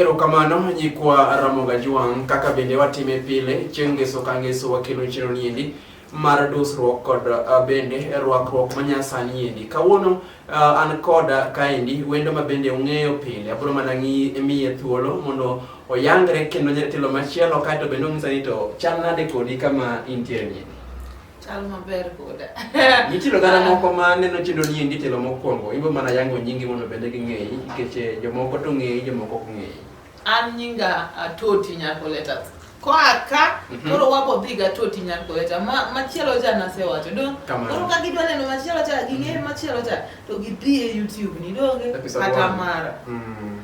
Erokamano nyikwa Ramoga Juang' kaka bende watime pile chieng' ngeso ka ngeso wakelo chiro niendi mar dusruok kod uh, bende rwakruok manyasani endi kawuono uh, an koda kaendi wendo ma bende ung'eyo pile abiro mana miye thuolo mondo oyangre kendo nyatilo machielo kaeto bende onyisa ni to chal nade kodi kama intiere niendi Chal maber koda. Nitie oganda moko ma neno chenro ni endi telo mokwongo, ibo mana yango nyingi mondo bende ging'eyi nikech eh, jomoko to ng'eyi, jomoko ok ng'eyi. An nyinga Atoti Nyakoleta. Koa ka Mhm. koro wabo dhi ga Atoti Nyakoleta. Ma machielo cha nasewacho. Do Kamano. koro ka gidwa neno machielo cha ging'e machielo cha to gidhi e YouTube ni donge Episode kata one. mara. Mm.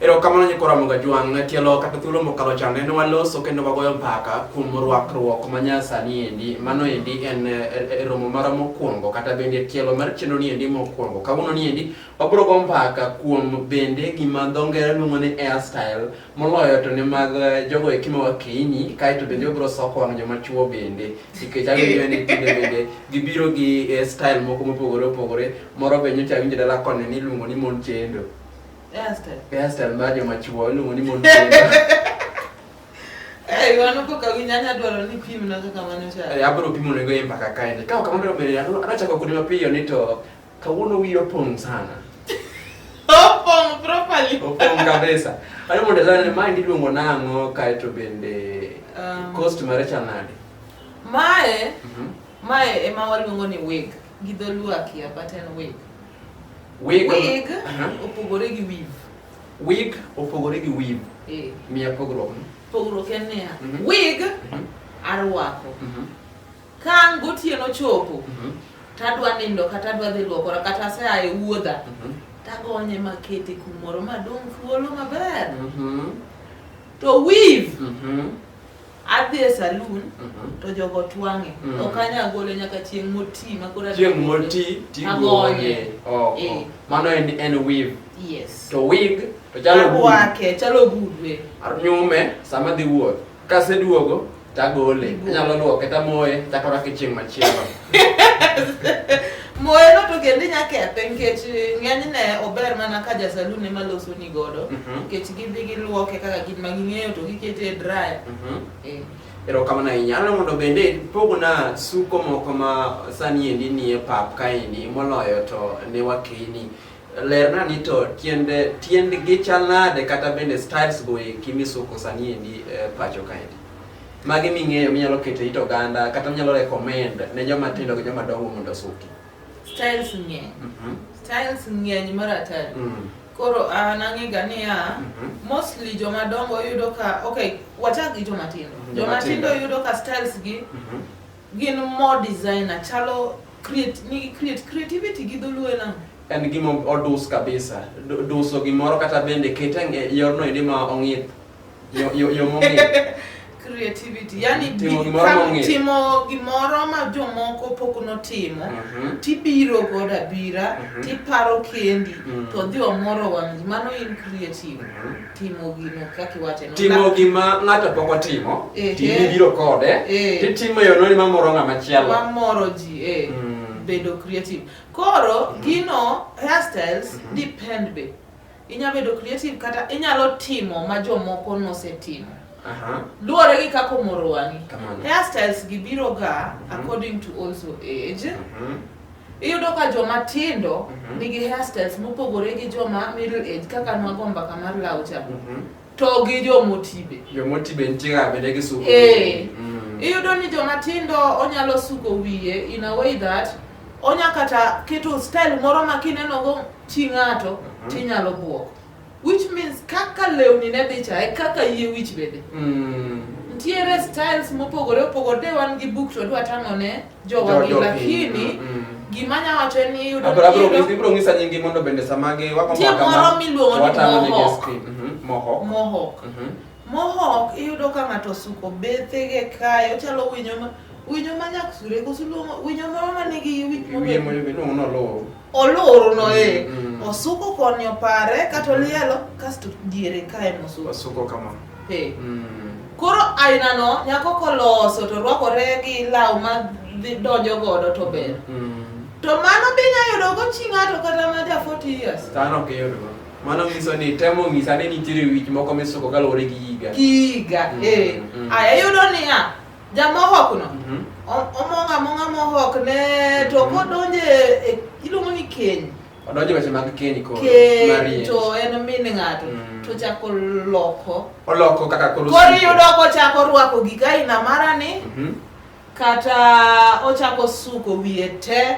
Erokamano nyikora Muga Jwang', tielo kata thuolo mokalo cha nene waloso kendo wagoyo mpaka kuom rwakruok ma nyasani endi. Mano endi en e, e, e romo mara mokwongo kata bende tielo mar chenro ni endi mokwongo. Kawuono ni endi wabiro go mpaka kuom bende gima dho ngere luongo ni hairstyle moloyo to ne mag e, jogo eki ma wakeyini kaeto bende wabiro soko wang' joma chuo bende nikech awinjo ni tinde bende gibiro gi e, style moko mopogore opogore moro be nyocha awinjo dala koni ni iluongo ni mon chendo. Hairstyle. Hairstyle mar joma chuo iluongo ni mon kendo. Eh, wano ko kawi nyanya dwaro ni pim na kaka mano cha. Eh, abro pimo nego yemba kaka ende. Kao kama ndo mbele yangu anachaka kuni mapiyo ni to kawuono wiyo opong' sana. Opong' properly. Opong' kabisa. Ano mondo zana ni mind iluongo nang'o kae to bende um, cost mare cha nade? Mae mm -hmm. mae ema waluongo ni wig gi dholuo akia but en wig. Wig, wig uh -huh. opogore gi weave. Wig opogore gi weave. Eh. Miya pogruok. Pogruok en niya. Mm -hmm. Wig mm -hmm. arwako. Mm -hmm. Ka gotieno chopo. Mm -hmm. Tadwa nindo kata adwa dhi luokora kata aseaye wuodha. Mm -hmm. Tagonye makete kumoro madong' thuolo maber. Mm -hmm. To weave mm -hmm. adhi e saloon mhm. to jogo twang'e mm. ok anyal gole nyaka chieng' moti ma koro chieng' moti tigonye oko eh. mano en en weave yes to wig to chalo wake chalo gudwe nyume sama dhi wuoth kaseduogo tagole anyalo luoke tamoye chako rake chieng' machielo Moelo to kendo inya kethe nikech ng'enyne ober mana ka jasalun ema losoni godo Mhm. nikech gidhi giluoke kaka gin ma ging'eyo to gikete e dryer. Mhm. Eh. erokamano ahinya ano mondo bende pogna suko moko ma sani endi nie pap kaendi moloyo to ne wakeyni lerna ni to tiende tiendgi chal nade kata bende styles go eki misuko sani endi eh, pacho kaendi Magi ming'eyo minyalo keto it oganda kata minyalo recommend ne joma tindo gi joma dongo mondo osuki. Styles ng'eny. Mm -hmm. Styles ng'eny mar atari. Mm -hmm. Koro an ah, ang'ega niya, mm -hmm. mostly joma dongo yudo ka, okay, wachak gi joma tindo. Mm-hmm. Joma tindo yudo ka styles gi mm -hmm. gin more designer, chalo create, nigi create, creativity gi dholuo e nang'o? en gima odus kabisa duso gimoro kata bende kete yorno endi ma ong'ith Yo yo yo mongi. creativity yani Timo bi- gimoro ka- mong'ith. timo gimoro ma jomoko pok notimo Mhm. tibiro godo abira Mhm. tiparo kendi Mhm. to dhi omoro wang' ji mano in creative Mhm. timo gino kaka iwacho no. Timo Na- gima ng'ato pok otimo, Ehe. timi biro kode, Eh. titimo e yorno ma moro ng'ama chielo. mamoro ji eh, Mm. bedo creative koro gino hairstyles depend be inya bedo creative kata inyalo timo ma jomoko nosetimo luwore gi kaka omoro wang'i hairstyles gi biro ga mhm. according to also age mhm. iyudo ka joma tindo mhm. nigi hairstyles mopogore gi joma middle age kaka nwago mbaka mar laucha To gi jomoti be. Jomoti be nitie ga bende gisuko. Eh. Mm. Iyudo ni joma tindo onyalo suko wiye in a way that onya kata keto style moro ma kineno go chi ng'ato mm-hmm. tinyalo buok. Which means kaka lewni ne dhi cha e kaka yie wich bende. Mm. Ntiere styles mopogore opogore de wan gi book to dwa tang'o ne jogi lakini mm, mm. gima nya wacho en ni yudo ibiro ng'isa nyingi mondo bende sama gi wako tie moro miluongo ni mohok mhm, mohok mohok mhm. mohok iyudo ka ng'ato suko bethege kae ochalo winyo ma winyo ma nyaksure koso winyo moro ma nigi wich mobedo Oloro no e. Mm, mm. Osuko koni opare kata olielo kasto diere kae mosuko. Osuko kama. Hey. Mm. Koro aina no nyako koloso to rwakore gi law ma donjo godo to ber. Mm. To mano be inya yudo go chi ng'ato kata ma ja 40 years. Tano ok iyud go. Mano nyiso ni temo nyisa ni nitiere wich moko misuko kaluwore gi higa. Gi higa, mm, eh. Mm. Aya yudo niya, Jamohokno Mhm. o- omong' among'a mohokne to kodonje e- iluongo ni keny Odonjo weche mag keny koro. keny marriage. to en min ng'ato Mm. to chako loko Oloko kaka koro. koro osiko. iyudo kochako rwako gik aina marani Mhm. kata ochako suko wiye te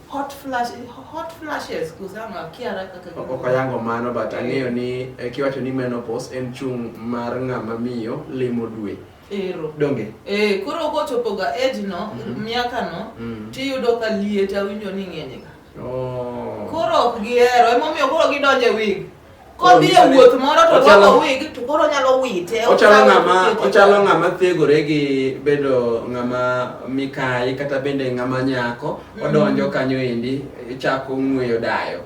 hot flash hot flashes kuzama kiara kaka ok ayango mano but ang'eyo ni eh, kiwacho ni menopause en chung' mar ng'ama miyo limo dwe ero donge eh koro kochopoga age no Mhm. miaka no Mm. tiyudo ka liet awinjo ni ng'enyga Oh. koro ok gihero emomiyo koro gidonje wig Kodhi e wuoth moro to orwako wig to koro onyalo wite. Ochalo ng'ama ochalo ng'ama thegore gi bedo ng'ama mikayi kata bende ng'ama nyako mm. odonjo kanyo endi chako ng'weyo dayo.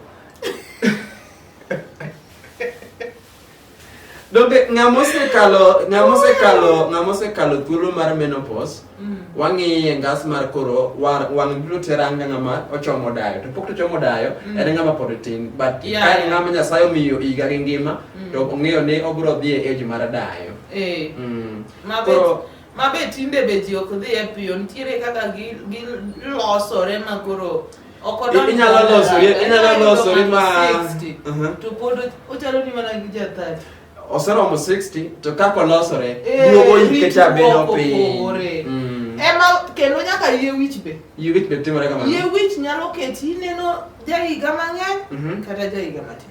Donge ng'ama osekalo ng'ama osekalo ng'ama osekalo thuolo mar menopause Mm. wang'iye ngas mar koro wang' biro tera nga ng'ama ochomo dayo to pok tochomo dayo mm. en ng'ama pod tin but yeah, ka en ng'ama nyasaye omiyo higa gi ngima mm. to ong'eyo ni obiro dhi e age mar dayo eh. mabe tinde be ji ok dhi e piyo nitiere kaka gilosore ma koro inyalo losori inyalo losori ma to pod ochalo ni mana gi jathati oseromo 60 to kaka olosore eh, duogo yike cha bedo piny mm. ema kendo nyaka yie wich be yie wich be timore kamano yie wich nyalo keti ineno jahiga mang'eny mhm. kata jahiga matin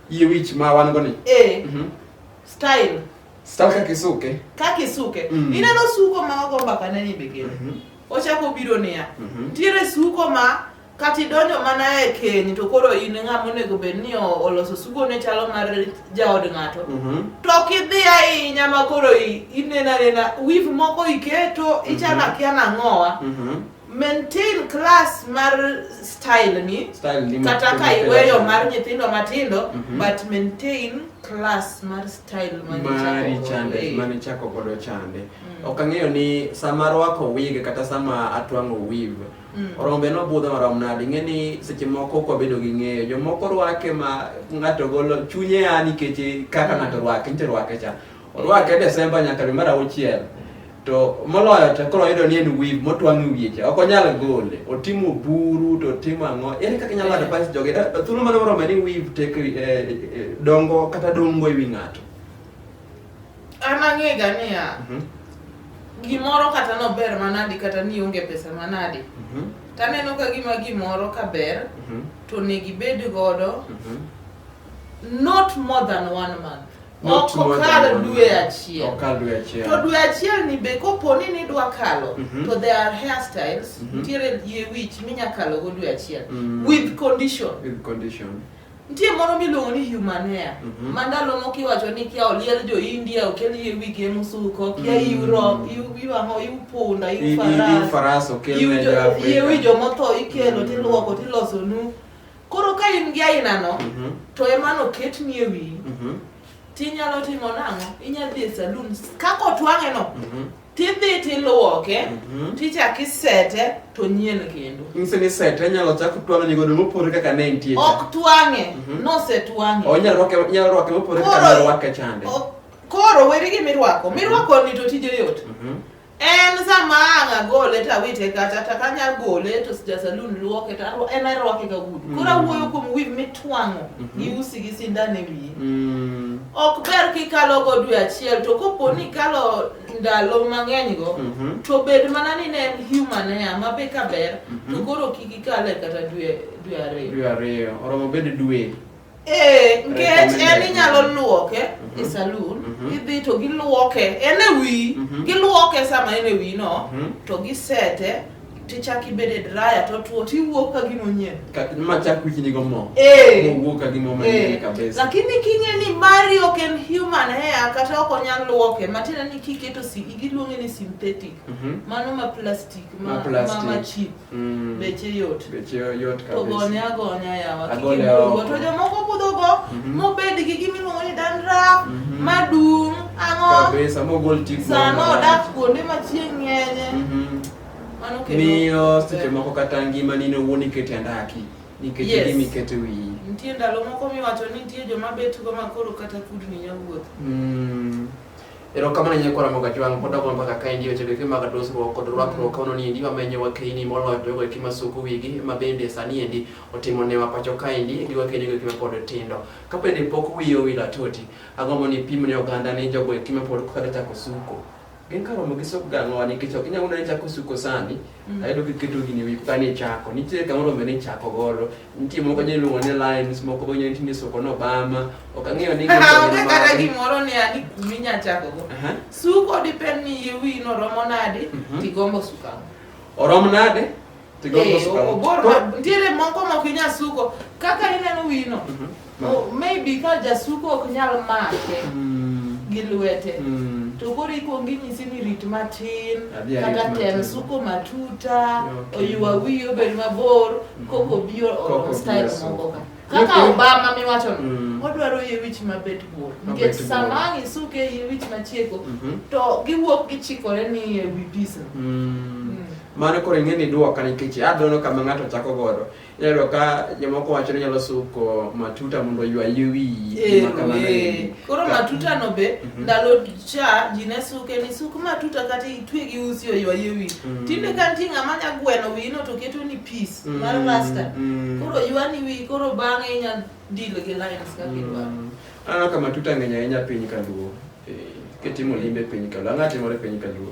yie wich ma wan go ni eh mhm. style style kaka isuke kaka isuke mm. ineno suko ma ogo mbaka ne ni be kendo mhm. ochako biro niya ntiere suko ma kata idonjo mana e keny to koro in ng'ama onego bed ni oloso sugo ne chalo mar jaod ng'ato mhm. to ok idhi ahinya ma koro inena nena wif moko iketo mhm. ichana kia nang'owa mhm. maintain class mar style ni kata ka iweyo mar nyithindo matindo but maintain class mar style mari chande mane chako godo chande mm. ok ang'eyo ni sama rwako wig kata sama atwang'o weave Mm. Orom be nobudho marom nadi ing'e ni seche moko kwa bedo gi ng'eyo jomoko rwake ma ng'ato golo chunye ya nikech kaka ng'ato rwake nitie rwake cha orwake desemba nyaka dwe mar auchiel to moloyo to koro yudo ni en wib motwang' e wiye cha ok onyal gole otimo buru to otimo ang'o ere kaka inyalo advise jogi Da- thuolo mane morome ni wib tek eh, eh, dongo kata dongo e wi ng'ato An ang'ega niya, Mhm. gimoro kata nober manadi kata ni onge pesa manadi, Mhm. taneno ka gima gimoro ka ber Mhm. to onego ibed godo Mhm. not more than one month. Not Ok more than okal one dwe month. achiel. Ok kal dwe achiel. To dwe achiel ni be kopo ni nidwa kalo Mhm. to there are hairstyles Mhm. nitiere yie wich minya kalogo dwe achiel Mm. with condition. With condition. Nitie moro miluongo ni human hair mm -hmm. ma ndalo moko iwacho ni kia oliel jo India okel yie wige musuko kia mm -hmm. Europe iwang'o iu punda iu faras faras okel ne jo Afrika iu ijo motho ikelo mm -hmm. tiluoko tiloso nu koro ka in gi aina no mm -hmm. to emano ket nie wiyi mm -hmm. tinyalo timo nang'o inyalo dhi e saloon kako twang'e no mm -hmm tidhi tiluoke mhm. tichak isete to nyien kendo nyiso ni sete inyalo chak twang'e godo mopore kaka ne entie ok twang'e mhm. nosetwang'e onyalo rwake mopore kaka ne orwake chande koro weri gi mirwako mirwako ni to tije yot mhm. en sama ang' agole tawite kata to kanyal gole to jasalun luoke to en arwake ga gudu koro awuoyo kuom wiv mitwang'o gi usi gi sindan e wiye Mm. ok ber kikalo go dwe achiel to kopo ni ikalo ndalo mang'eny go Mhm. to bed mana ni ne en human hair ma be ka ber to Mhm. koro kik ikale kata dwe dwe ariyo Dwe ariyo. Oromo bed dwe. ee nkech en Recommended. inyalo luoke e Mhm. saloon Mhm. idhi to giluoke en e wiyi Mhm. giluoke sama en e wiyi no Mhm. to gisete tichak ibed e draya to tuo tiwuok ka gima onyien ma chak wiki nigo mo eh. mowuok ka gima manyien eh. kabisa lakini king'e ni mari ok en human hair kata ok onyal luoke matiende ni kiketo si giluonge ni synthetic mhm. mano ma plastic ma ma cheap mm. beche yot beche yot kabisa to gone agonya yawa kikibugo to jomoko budhogo mhm. mobed gi gimiluongo ni dandruff mhm. madung' ang'o kabisa mogol tik sano odak kuonde ma chieng' ng'enye miyo seche moko kata ngima nino wuon ikete andaki nikech yes. gimi kete wiyi nitie ndalo moko miwacho ni nitie joma bet go makoro kata kudni nyawuoth mm. erokamano nyako ramoga jwang pod agono mbaka ka endi weche geke mag dusruok kod rwakruok mm. kaono ni endi wamenyo wakeini moloyo jogo eki masuku wigi ma bende sani endi otimo newa pacho ka endi gi wakeini goeki mapod tindo ka bende pok wiyi owil atoti agombo ni pimne oganda ni jogo eki mapod kaka chako suko gin ka romo gi sop gang'owa nikech ok inyalo nene chako suko sani mm. ayudo kiketo gini wi kani ichako nitiere kama rombe ni ichako godo nitie moko nyalo luongo ni lines moko bo nyalo tinde suko nobama ok ang'eyo ni onge kata gimoro ni ani kumi nya chako go suko depend ni yie wi no romo nade mhm. tigombo suka orom nade ntiere moko mok inya suko kaka ineno wino mhm. maybe ka jasuko ok nyal make mm. gi lwete mm. to koro ikwongi nyisi ni rit matin kata tem suko matuta oywa wiyi obed mabor mm. koko bi oro style moko ka kaka obama miwacho mm. odwaro yie wich mabet bor nikech sama ang' isuke yie wich machieko mhm. to giwuok gichikore ni e wi pisa mm. Mano koro ing'e ni duoka nikech adhono kama ng'ato chako godo. Iyudo ka jomoko wacho ni nyalo suko matuta mondo oywa yie wiyi. Eh, gima kamano eh. endi. Koro Ka- matuta no be Mhm. ndalo cha ji ne suke ni suk matuta kata itwe gi usi oywaye wi. Mm. Tinde ka nitie ng'ama nya gweno wino to keto ni piece Mm, mar rasta. mm. Koro ywani wi koro bang'e inya deal gi lines kaka idwaro. Mm. Aneno ka matuta ng'eny ahinya piny kaluo. Eh, Kitimo limbe piny kaluo. Ang'o atimore piny kaluo?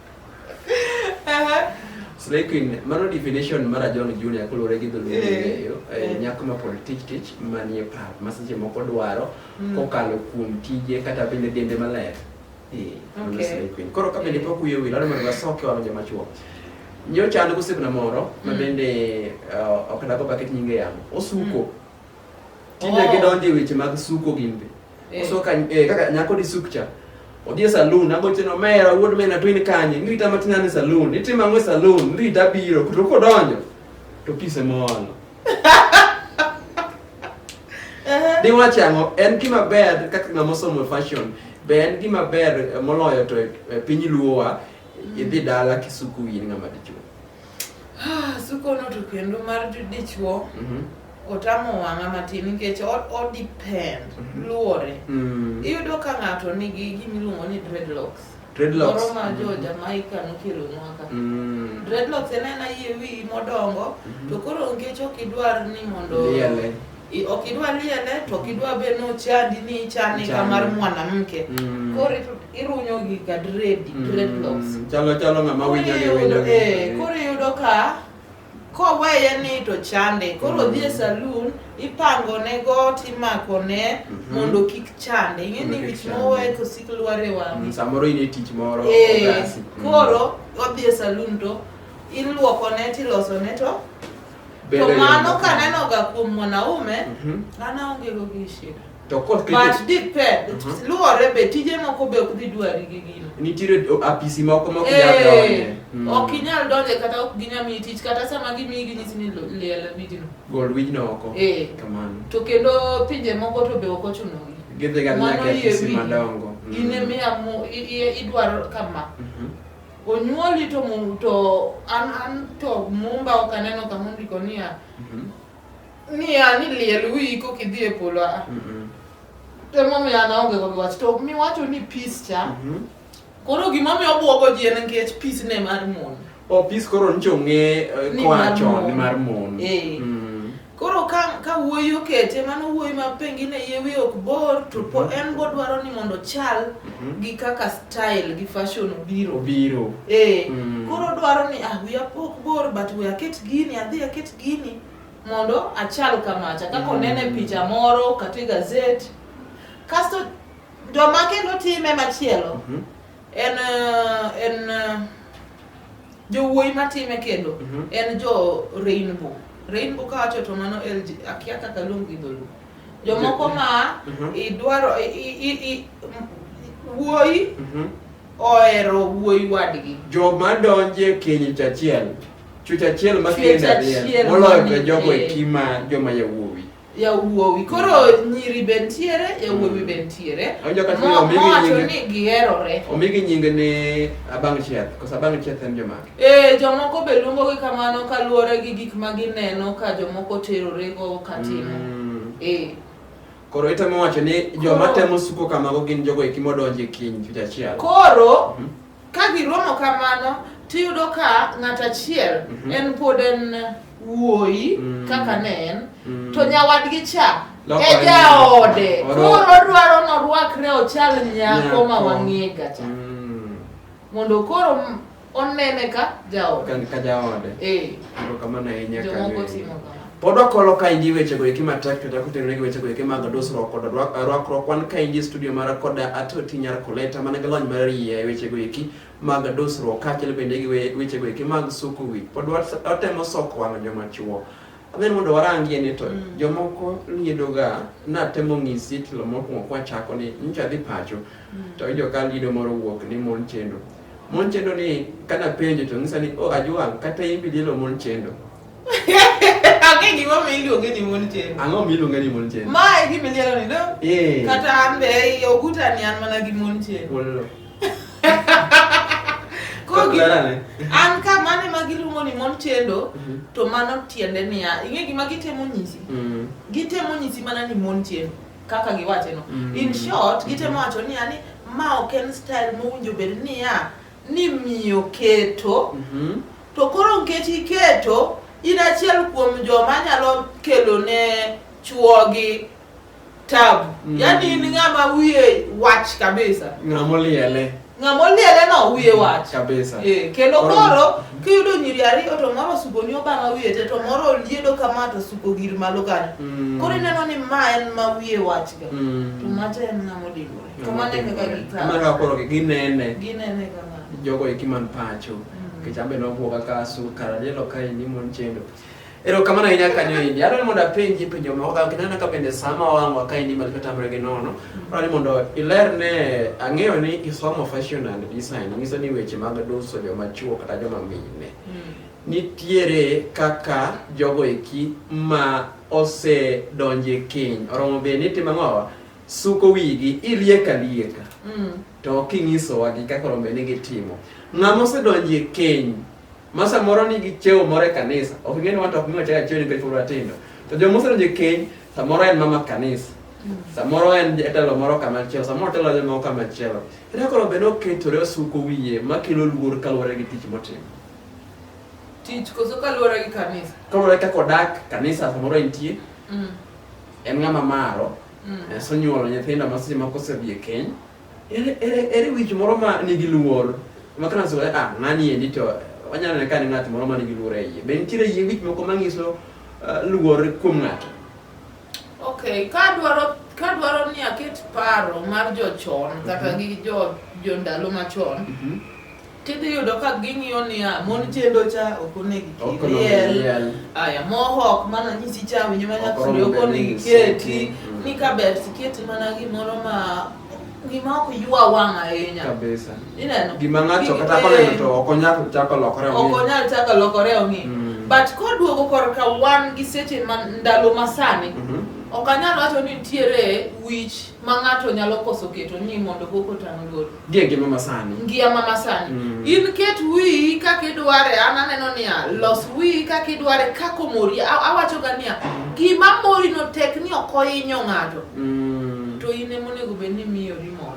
Slay Queen, mano definition mar John Junior kolore gi dholuo eh, ng'eyo eh, eh. nyako ma pod tich tich manie pap ma seche moko dwaro hmm. kokalo kuom tije kata bende dende maler. Slay Queen. Koro ka bende pok uyo wil, adwaro wasoke walo joma chuo. Nyocha an gosiepna moro ma hmm. bende ok dago baket nyinge yamo. Osuko. Hmm. Tinde oh. gidonje weche mag suko gimbe. Eh. Oso ka eh, kaka nyako di sukcha. Odhi e saloon, agoche no mera wuod mena to in kanye? Nirita matin ane saloon. Itimo ang'o e saloon? Nirita biro. To kodonjo to pise moolo. Di wacho ang'o? En gima ber kaka ng'ama osomo fashion. Be en gima ber eh, moloyo to e, e piny luowa idhi dala kisuku in ng'ama dichuo. Sukono to kendo mar dichwo mhm. otamo wang'a matin nikech odepend mhm. luwore. Mm. Iyudo ka ng'ato nigi gimiluongo ni dreadlocks. Dreadlocks. Moro ma jo mm-hmm. Jamaica nokelo nwaka. Mm. Dreadlocks en aena yie wiyi modongo mm-hmm. to koro nikech ok idwar ni mondo I- ok idwa liele to ok idwa be ni ochandi ni ichane ka Chane. mar mwanamke Mm. koro i- irunyo gi ka dredi Mm, dreadlocks Chalo chalo ng'ama Koro winjo gi iyudo- winjo. eh, koro iyudo ka koweye ni to chande koro Mm. dhi e saloon ipango ne got imako ne Mhm. mondo kik chande ing'e ni Mondo kik wich chande. mowe kosik lwar e Mm, wang'e Samoro in e tich moro. Eh, ogasi. Mm. koro odhi e saloon to iluoko ne tiloso ne to Bedo To e yo mano moko. kanenoga kuom mwanaume, Mhm. an aongego gi shida. To koth But keto depend, Mhm. luwore be tije moko be ok dhi dwari gi gino. nitiere o- apisi moko ma ok nyal Eh, donje. Mm. ok inyal donje kata ok ginya miyi tich kata sama gimiyi ginyisi ni lo- liel abijino Gol wijno oko. Eh. Kamano. to kendo pinje moko to be ok ochunogi Gidhiga nyaka e apisi madongo. Mm. in emiya mu- i- i- idwaro kama Mhm. Onyuoli to mum to an an to mumba ok aneno kama ondiko niya Mhm. niya ni liel wiyi kok idhi e polo a Mhm. emomiyo an aonge kod wach to miwacho ni peace cha Mhm. koro gimomiyo obwogo ji en nikech peace ne mar mon Opis koro ncho ng'e eh, Ni koa mar chon mon. ni mar mon. Eh. Mm. Koro ka, ka wuoyi okete mano wuoyi ma pengine yie wiye ok bor to po en bodwaro ni mondo ochal Mhm. gi kaka style gi fashion obiro Obiro. Eh, Mm. koro dwaro ni ah wiya pok bor but we aket gini adhi aket gini mondo achal kamacha kaka Mm. onene picha moro kata e gazet kasto joma kendo time machielo Mhm. en eh, en eh, jowuoyi matime kendo Mhm. en jo rainbow rainbow kawacho to mano LG akia kaka luong gi dholuo jomoko ma Mhm. idwaro i- i- i- i- wuoyi Mhm. ohero wuoyi wadgi joma donje keny chachiel chuch achiel ma Chuech kende achiel riel moloyo to mamiyo jogo kee. eki ma joma yawuoyi yawuowi koro mm. nyiri be ntiere yawuowi mm. be ntiere mowacho ni giherore omigi nyinge ni abang' chieth koso abang' chieth en jomage ee eh, jomoko be luongogi kamano kaluwore gi gik ma gineno ka jomoko terorego katimo mm. ee eh. koro itemo wacho ni joma temo suko kamago gin jogo eki modonje kiny chuchachiel koro mm -hmm. Ka giromo kamano, tiyudo ka ng'at achiel Mhm. en pod en wuoyi Mm. kaka ne en Mm. to nyawadgi cha Loko e en- jaode Oru- koro odwaro norwakre ochal nyako ma Nyako. wang'ega cha Mm. mondo koro m- onene ka jaode Ka- ka jaode Eh, Erokamano ahinya jomoko Kanye. timo kamano Pod wakolo ka indi wechego eki matek kata kutenore gi wechego eki mag dusruok kod rwakruok wan ka indi studio mara kod atoti nyar koleta mana gi lony mar yie e wechego eki mag dusruok kaachiel bende gi wechego eki mag suku wich pod watemo soko wang'o joma chuo adhi ni mondo warangie ni to mm. jomoko liedoga natemo ng'isi tilo mokwongo kwachako ni nyocha dhi pacho mm. to ijo ka liedo moro wuok ni mon chendo mon chendo ni kanapenjo to ng'isa ni o oh, ajwang' kata imbi lielo mon chendo Ang'e gima mi iluonge ni mon chendo. Ang'o mi iluonge ni mon chendo? Ma e gima iliero ni do. Eh. Kata an be ei oguta ni an mana gi mon chendo. Wololo. Koro gi- Clara ne. an ka mane ma giluongo ni mon chendo Mhm. to mano tiende niya ing'e gima gitemo nyisi Mm. gitemo nyisi mana ni mon chendo kaka giwache no Mm. in short gitemo wacho niya ni ma ok en style mowinjo bed niya ni miyo keto Mhm. To koro nikech iketo in achiel kuom joma nyalo kelo ne chuogi tabu mm. yani in ng'ama wiye wach kabisa ng'amoliele ng'amoliele no wiye mm, wach kabisa e, kendo koro kiyudo nyiri ariyo to moro osuko ni obama wiye te to moro oliedo kama to osuko gir malo kanyo mm. koro ineno ni ma en ma wiye wachga mm. to macha en ng'amodimore To mano e kaka gikawo. Mano kaka koro ginene. Ginene kama. Jogo eki man pacho. Mm. Nikech ambe nobwoga ka su karajelo ka indi mon chendo. Ero kamano ahinya kanyo indi. Adwaro ni mondo apenji penjo moko kaka kinana ka bende sama wang'wa ka indi mali katamre gi nono. Mm. Adwaro ni mondo iler ne ang'eyo ni isomo fashion and design. Nyiso ni weche mag duso joma chuo kata joma mine. Mm. Nitiere kaka jogo eki ma ose donje keny. Oromo be ni timo ang'owa? suko wigi ilieka lieka mm. to kinyisowa gi kaka rombe ni gitimo ng'ama osedonjo e keny ma samoro ni gi cheo moro e kanisa ok ng'e ni wanta ok miwa chaka cheo nikech pura tindo to joma osedonjo e keny samoro en mama kanisa mm. samoro en jatelo moro kama chielo samoro telo joma moro kama chielo ere koro bende oketore osuko wiye ma kelo luor kaluwore gi tich motimo tich koso kaluwore gi kanisa kaluwore kaka odak kanisa samoro entie mm. en ng'ama maro mm. eh, sonyuolo nyithindo ma seche moko osedhi e keny ere wich moro ma nigi luor ma kana so eh, ah nani endi to wanyalo neno ka ni ng'at moro ma nigi luor e iye be nitiere yie wich moko ma nyiso eh, luor kuom ng'ato okay ka dwaro ka dwaro ni aket paro mar jochon kata mhm. gi jo jo ndalo machon mhm. Tidhi yudo ka ging'iyo niya, mon chendo cha ok onegi kiriel. Aya, moho ok mana nyisi cha winyo mana kuri ok onegi keti. Mm. Ni ka ber tiketi mana gimoro ma gima ok ywa wang' ahinya. Kabisa. Ineno? Gima ng'ato kata koneno to ok onyal chako lokore ong'i. Ok onyal chako lokore ong'i. Mm. But koduogo korka wan gi seche ma ndalo masani, mm -hmm. ok anyal wacho ni nitiere wich ma ng'ato nyalo koso keto ni mondo koko tang' lor Gie ngima masani. Ngia ma masani. Mm. In ket wiyi kaka idware, an aneno niya, los wiyi kaka idware kaka omori. A- Awachoga niya, gima morino tek ni ok ohinyo ng'ato, Mm. to in ema onego bed ni miyori mor.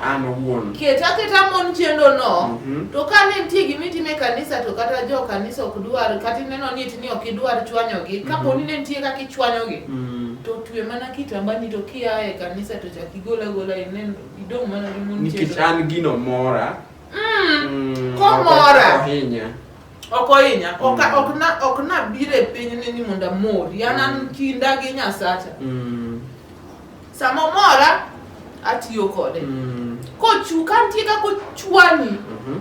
An owuon. Ket aketa mon chendono, Mhm. to ka ne nitie gima itimo e kanisa to kata jo kanisa ok dwar, kata ineno ni it ni ok idwar chwanyogi, kapo ni ne nitie kaka ichwanyogi, Mm. to twe mana kitambani to kia e kanisa to chak igol agola inen Idong' mana gi mon nikech chiedo. an gino mora Mm, Mm, Komora. ok ohinya ok ohinya ok Mm. ok na ok na bire piny ni ni mondo amori an an Mm. kinda gi nyasacha Mm, sama omora atiyo kode mm, kochu ka nitie kaka ochwani mhm,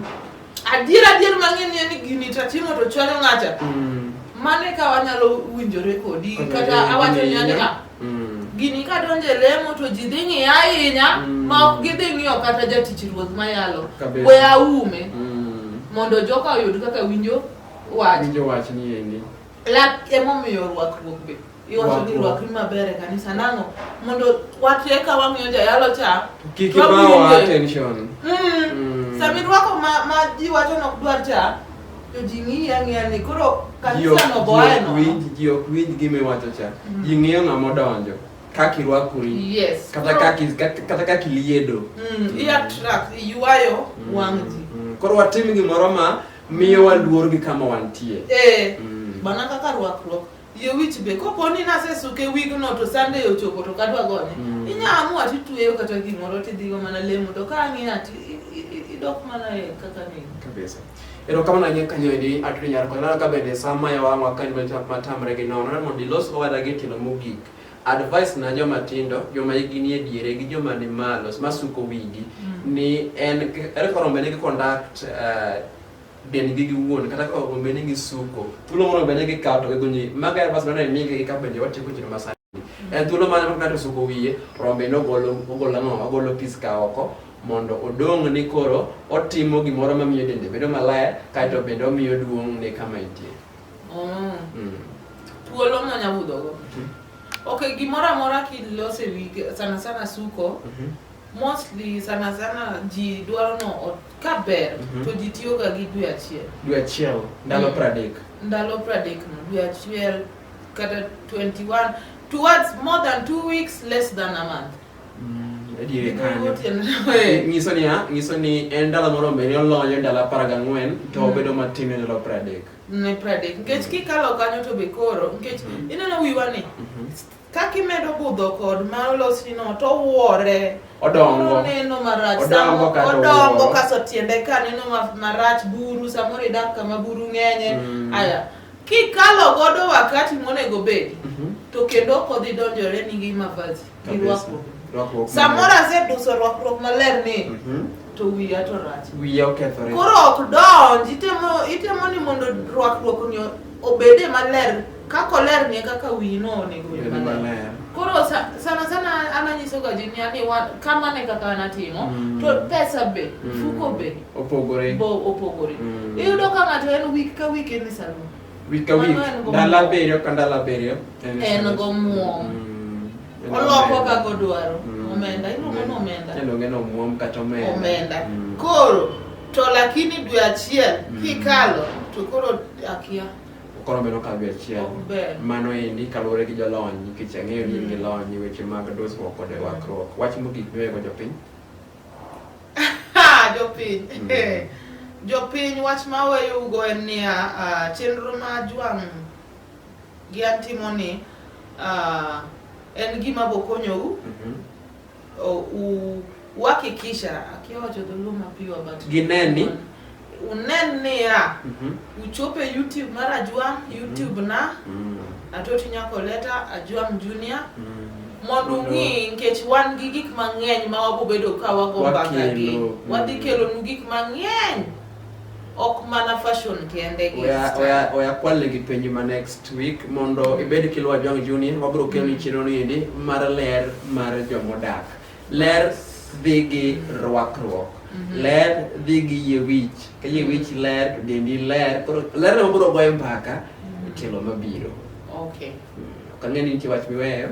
Adier adier mang'eyo ni en ni gini to atimo to chwanyo ng'acha. Mm. Mano e ka wanyalo winjore kodi Kata kata e- awacho e- ni ka Mm. gini ka donjo e lemo to ji dhi ng'iya ahinya Mm. ma ok gidhi ng'iyo kata jatich ruoth mayalo. Kabisa. We aume Mm. mondo joka oyud kaka winjo wach. Winjo wach ni endi. Lak emomiyo rwakruok be iwacho ni Rwakruok. rwakri maber e kanisa nang'o mondo watwe ka wang'iyo jayalo cha Kik Rob ibawa winje. attention. Mm. Mm. Sami rwako ma, ma ji wacho nok dwar cha to ji ng'iyi ang'iya ni koro Ji ok- kanisa no ji boye ok no winj- Ji ok winj gima iwacho cha. Mm. Ji ng'iyo ng'ama odonjo. Kaka irwakori. yes Kata Koro- kaka is- kata- kata kaka iliedo. mm, i attract iywayo Mm. wang' ji Mm. Koro watim gimoro ma Miyowa luor gi kama wantie. Eh, Mm. mana kaka rwakruok. Yie wich be, kopo ni nasesuke wigno to Sunday ochopo to kadwa gonye. Mm. Inya amua titweyo kata gimoro tidhigo mana lemo to ka ang'iyo ati i- i- i- idok mana e kaka ni. Kabisa. Erokamano ahinya kanyo endi Atri Nyarko. Ineno ka bende sama yawang'wa ka en matam- matamre gi nono. Ineno mondo ilos owada gi tielo mogik. advice na joma tindo joma hikgi nie diere gi joma ni malo masuko wigi mm. ni en ere kaka rombe nigi conduct uh, dendgi giwuon kata kaka rombe nigi suko thuolo moro rombe nigi kawo to gigonyi maga advice nane migi gi kapenjo watieko chino masani mm. en thuolo mane maka ng'ato suko wiye rombe no ogolo ogolo ang'o ogolo pis ka oko mondo odong' ni koro otimo gimoro mamiyo dende bedo maler kaeto bende omiyo duong' ne kama entie Mm. Mm. Thuolo ma nya budho go. Mhm. Okay, gimoro amora kilose wi sana sana suko. Mhm. Mostly sana sana ji dwaro no ot- ka ber Mhm. to ji tiyo ga gi dwe achiel. Dwe achiel ndalo Mm. pradek. Ndalo pradek no dwe achiel kata 21 towards more than two weeks less than a month. Adier kanyo. Nyiso ni a, nyiso ni en dala moro mbele olonyo dala apar gang'wen to Mm. obedo matin ne dala piero adek. ne pradek nikech kikalo kanyo to be koro nikech Mm. ineno wiwa ni Mhm. kaka imedo budho kod ma olosni no to wuore Odongo. neno marach Odongo Samo- kata odongo owuoro. kaso tiende ka neno ma- marach buru samoro idak kama buru ng'enye Mm. aya kikalo godo wakati monego bedi Mhm. to kendo ok odhi donjore ni gi mavazi gi rwakruok. Rwakruok Samoro maler. aseduso rwakruok maler ni Mhm. to wiya to rach. Wiya okethore. Koro ok donj, itemo itemo ni mondo rwakruok ni obede maler kaka oler ni e kaka wiyi no onego obed Bedo maler. maler. Koro sa- sana sana an anyisoga ji ni ani wa- kamano e kaka an atimo Mm. to pesa be, Mm. mfuko be Opogore. bo opogore. Mm. Iyudo ka ng'ato en week ka week en e salon. Vilka Manuel vill? Gomes. Dalla Berio kan Dalla Berio. En gomuom. Mm. Oloko kaka odwaro. Mm. Omenda, iluongo ni omenda. Iluongo ni omuom kata omenda. Omenda. Mm. Koro to lakini dwe achiel Mm. kikalo to koro akia. Koro medo ka dwe achiel. Ok ber. Mano endi kaluwore gi jolony nikech ang'eyo ni in gi lony e weche mag dusruok kod rwakruok. Wach mogik miwego jopiny. jopiny mm. eh, jopiny wach ma weyougo en niya ah, chenro ma jwang' gi an timoni ah, en gima bokonyowu mm-hmm. uhakikisha akiwacho dhuluma piwa but gineni unen niya mhm. uchope youtube mar ajwang mhm. youtube na mhm. atoti nyako leta ajwang junior mondo ung'i nikech wan gi gik mang'eny ma wabobedo ka wago mbakagi wadhi kelonu gik mang'eny ok mana fashion kende oya kwale gi penjo ma next week mondo ibed kiluwa jwang junior wabiro keloni chenro ni endi mar ler mar jomodak Ler dhi gi rwakruok. Mhm. Ler dhi gi yie wich. Ka yie wich ler, dendi ler. Koro ler no biro goyo mbaka mhm. tielo mabiro. Okay. Mm, ok ang'eyo ni nitie wach miweyo.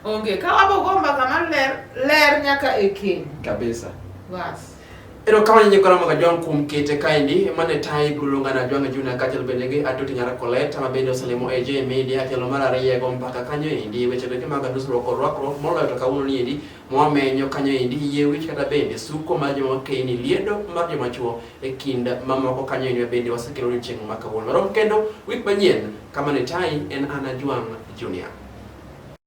Onge. Ka wabogo mbaka mar ler, ler nyaka e keny. Kabisa. Bas. Erokamano nyikora mag Ajwang' kuom kete kaendi mane tayi biro luonga na Ajwang' Junior kaachiel bende gi Atoti Nyara Colette ma bende oselimo e J Media tielo mar ariyo go mpaka kanyo endi weche doke mag dusruok kod rwakruok moloyo to kawuono ni endi mwamenyo kanyo endi yie wich kata bende suko mar joma keyni liedo mar joma chuo e kind mamoko kanyo endi bende wasekelo ni chieng' ma kawuono. Rom kendo wik manyien kama ne tayi en an Ajwang' Junior.